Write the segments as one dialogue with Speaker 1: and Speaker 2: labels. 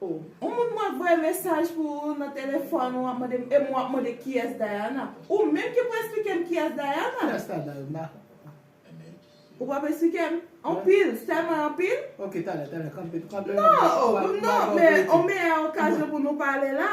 Speaker 1: Ou moun mwen voye mesaj pou ou nan telefòn ou ap mande m em ou ap mande kiyès Diana? Ou menm ki pou esplike m kiyès Diana? Kiyès la Diana? Ou pap esplike m? Anpil, sèlman anpil? Ok talè, talè
Speaker 2: kanpe, kanpe. Non, non,
Speaker 1: men yon meyè okazyon pou nou pale la.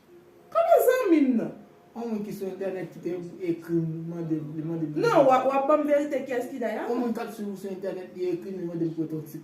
Speaker 2: Koman
Speaker 1: zanmi m nan? On moun ki sou
Speaker 2: entènèt ki te ekri m li mande m.
Speaker 1: Non,
Speaker 2: w
Speaker 1: ap ban
Speaker 2: m verite kiyès ki
Speaker 1: Dayana.
Speaker 2: On
Speaker 1: moun
Speaker 2: k ap swiv
Speaker 1: ou sou
Speaker 2: entènèt
Speaker 1: li
Speaker 2: ekri
Speaker 1: m li
Speaker 2: mande m pou
Speaker 1: w fè yon
Speaker 2: ti.